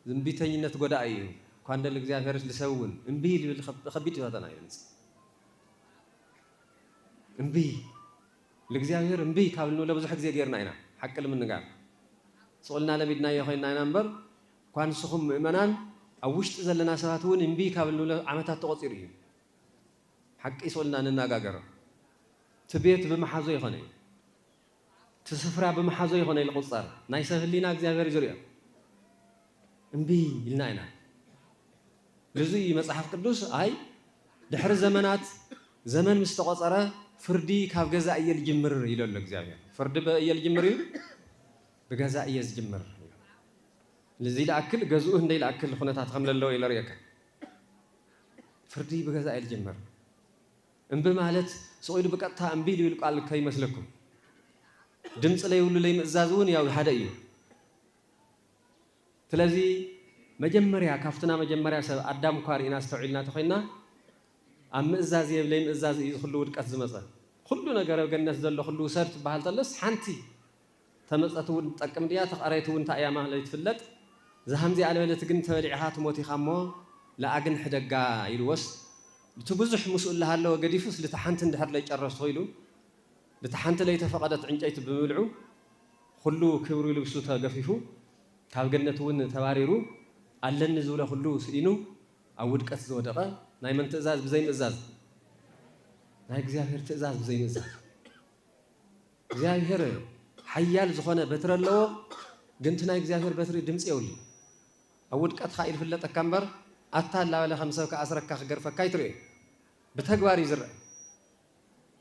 ዝምቢተኝነት ጎዳኢ እዩ እኳ እንደ ልእግዚኣብሔርስ ልሰብ እውን እምቢ ልብል ኸቢድ ፈተና እዩ ልጽ እምቢ ልእግዚኣብሔር እምቢ ካብ ልንብሎ ብዙሕ ግዜ ጌርና ኢና ሓቂ ልምንጋር ስቑልና ለሚድናዮ ኮይንና ኢና እምበር እኳ ንስኹም ምእመናን ኣብ ውሽጢ ዘለና ሰባት እውን እምቢ ካብ ልንብሎ ዓመታት ተቖፂሩ እዩ ሓቂ ስቑልና ንናጋገሮ እቲ ቤት ብምሓዞ ይኾነ እዩ እቲ ስፍራ ብምሓዞ ይኾነ ልቑጸር ናይ ሰብ ህሊና እግዚኣብሔር ዝሪኦ እምቢ ኢልና ኢና ልዙይ እዩ መጽሓፍ ቅዱስ ኣይ ድሕሪ ዘመናት ዘመን ምስ ተቖጸረ ፍርዲ ካብ ገዛ እየ ልጅምር ኢሎ ኣሎ እግዚኣብሔር ፍርዲ በእየ ልጅምር እዩ ብገዛ እየ ዝጅምር ልዚ ልኣክል ገዝኡ እንደይ ልኣክል ኩነታት ከም ለለዎ ኢለ ርእየካ ፍርዲ ብገዛ እየ ልጅምር እምቢ ማለት ስቕ ኢሉ ብቀጥታ እምቢ ዝብል ቃል ከይመስለኩም። ድምጺ ለይብሉ ለይምእዛዝ እውን ያው ሓደ እዩ። ስለዚ መጀመርያ ካብቲ ናይ መጀመርያ ሰብ ኣዳም እኳ ርኢና ኣስተውዒልና ተኾይንና ኣብ ምእዛዝ እየ ለይምእዛዝ እዩ እዚ ኩሉ ውድቀት ዝመጸ። ኩሉ ነገረ ገነት ዘሎ ኩሉ ውሰድ ትበሃል ተሎስ ሓንቲ። ተመጸት እውን ትጠቅም ድያ ተቀረየት እውን እንታይ እያ ማለይ ትፍለጥ ዛሃምዚኣ ልበለት ግን ተበሊዕኻ ትሞት ኢኻ እሞ ልኣግን ሕደጋ ኢልዎስ ልቲ ብዙሕ ምስኡ ልሃለወ ገዲፉስ ልቲ ሓንቲ እንድሕር ለይጨረስኹ ኢሉ ልቲ ሓንቲ ለይተፈቀደት ዕንጨይቲ ብምብልዑ ኹሉ ክብሪ ልብሱ ተገፊፉ ካብ ገነት እውን ተባሪሩ ኣለኒ ዝብሎ ኹሉ ስኢኑ ኣብ ውድቀት ዝወደቀ ናይ መን ትእዛዝ ብዘይምእዛዝ ናይ እግዚኣብሔር ትእዛዝ ብዘይምእዛዝ። እግዚኣብሄር ሓያል ዝኾነ በትሪ ኣለዎ ግን እቲ ናይ እግዚኣብሄር በትሪ ድምጺ የብሉን ኣብ ውድቀትካ እዩ ዝፍለጠካ እምበር ኣታ እንዳበለ ከም ሰብ ክኣስረካ ክገርፈካ ኣይትሪኦን ብተግባር እዩ ዝረኣ።